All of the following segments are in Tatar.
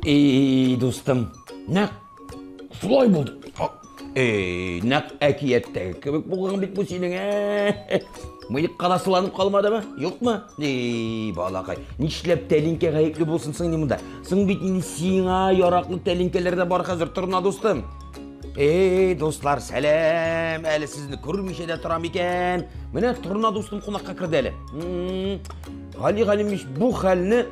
Эй, дустым, нәк солай булды. Эй, нәк әкияттәге кебек булган бит бу синең. Ә? Мыек каласыланып калмадымы? Юкмы? Эй, балакай, нишләп тәлинкә гаепле булсын соң монда? Соң бит инде сиңа яраклы тәлинкәләр дә бар хәзер, торна дустым. Эй, дуслар, сәлам! Әле сезне күрмичә дә торам икән. Менә Торна дустым кунакка керде әле. Гали Галимович, бу хәлне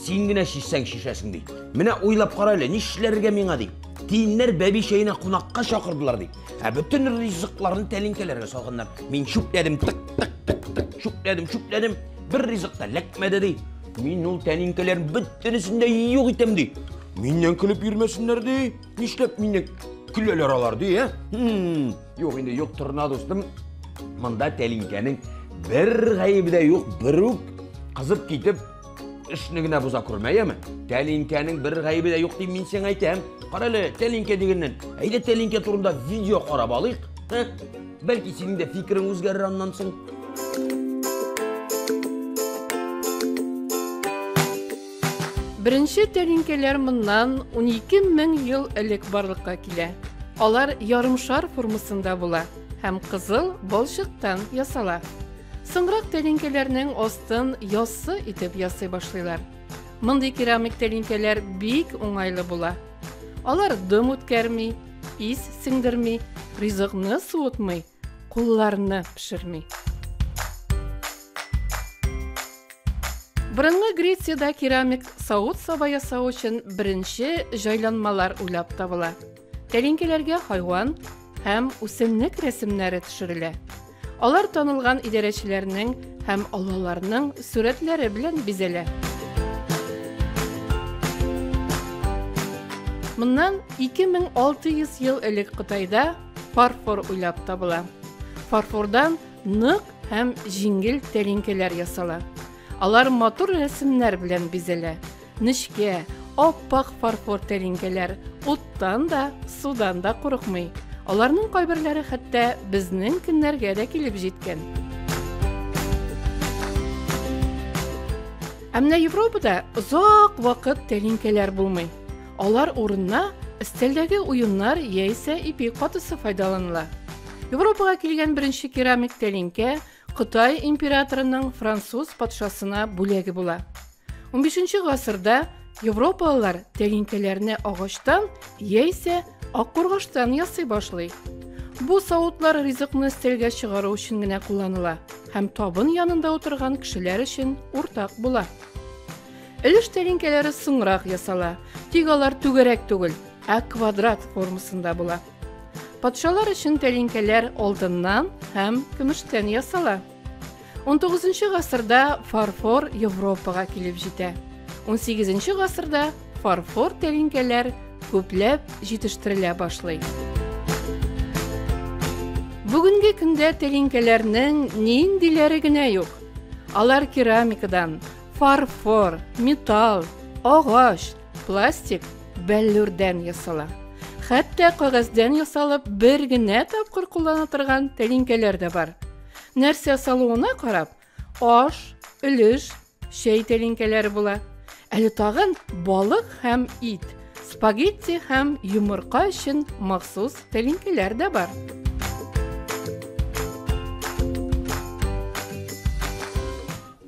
син генә чишсәң шешәсең ди. Менә уйлап кара әле, нишләргә миңа ди. Тиеннәр бәби чәенә кунакка чакырдылар ди. Ә бөтен ризыкларны тәлинкәләргә салганнар. Мин чүпләдем, тык тык тык тык, чүпләдем, чүпләдем. Бер ризык та ләкмәде ди. Мин ул тәлинкәләрнең бөтенесен дә юк итәм ди. Миннән көлеп йөрмәсеннәр ди. Нишләп мине көләләр алар ди, ә? Хм, юк инде, юк торна дустым. Монда тәлинкәнең бер гаебе дә юк, берүк кызып китеп эшне генә боза күрмә, яме? Тәлинкәнең бер гаебе дә юк дип мин сиңа әйтәм. Кара әле, тәлинкә дигәннән. Әйдә тәлинкә турында видео карап алыйк. Ә? Бәлки синең дә фикерең үзгәрер аннан соң. Беренче тәлинкәләр моннан унике мең ел элек барлыкка килә. Алар ярымшар формасында була һәм кызыл балчыктан ясала. Соңрак тәлинкәләрнең астын яссы итеп ясый башлыйлар. Мондый керамик тәлинкәләр бик уңайлы була. Алар дым үткәрми, ис сеңдерми, ризыкны суытмый, кулларны пешерми. Борынгы Грециядә керамик савыт-саба ясау өчен беренче җайланмалар уйлап табыла. Тәлинкәләргә хайван һәм үсемлек рәсемнәре төшерелә. Алар танылган идарәчеләрнең һәм олыларның сурәтләре белән бизәлә. Моннан 2600 ел элек Кытайда Фарфор уйлап табыла. Фарфордан нык һәм җиңел тәлинкәләр ясала. Алар матур рәсемнәр белән бизәлә. Нечкә, аппак фарфор тәлинкәләр уттан да, судан да курыкмый. Аларның кайберләре хәтта безнең көннәргә дә килеп җиткән. Ә менә Европада озак вакыт тәлинкәләр булмый. Алар урынына өстәлдәге уеннар яисә ипи катысы файдаланыла. Европага килгән беренче керамик тәлинкә Кытай императорының француз патшасына бүләге була. 15 гасырда европалылар тәлинкәләрне агачтан яисә аккургаштан ясый башлый. Бу савытлар ризыкны өстәлгә чыгару өчен генә кулланыла һәм табын янында утырган кешеләр өчен уртак була. Өлеш тәлинкәләре соңрак ясала, тик алар түгәрәк түгел, ә квадрат формасында була. Патшалар өчен тәлинкәләр алтыннан һәм көмештән ясала. 19 гасырда фарфор Европага килеп җитә. 18 гасырда фарфор тәлинкәләр күпләп җитештерелә башлый. Бүгенге көндә тәлинкәләрнең ниндиләре генә юк. Алар керамикадан, Фарфор, металл, агач, пластик, бәллүрдән ясала. Хәтта кагәздән ясалып бер генә тапкыр куллана торган тәлинкәләр дә бар. Нәрсә салуына карап, аш, өлеш, чәй тәлинкәләре була. Әле тагын балык һәм ит, спагетти һәм йомырка өчен махсус тәлинкәләр дә бар.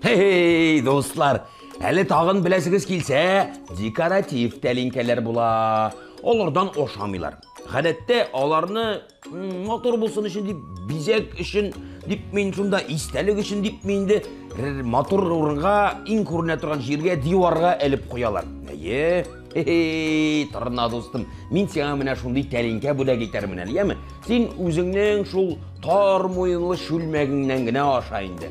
Хе-хей, дуслар, әле тагын беләсегез килсә, декоратив тәлинкәләр була. Алардан ашамыйлар. Гадәттә аларны мотор булсын өчен дип, бизәк өчен дип мин шунда истәлек өчен дип мин инде мотор урынга иң күренә торган җиргә диварга элеп куялар. Әйе, Хе-хей, торна дустым, мин сиңа менә шундый тәлинкә бүләк итәрмен әле, яме? Син үзеңнең шул тар муенлы чүлмәгеңнән генә аша инде.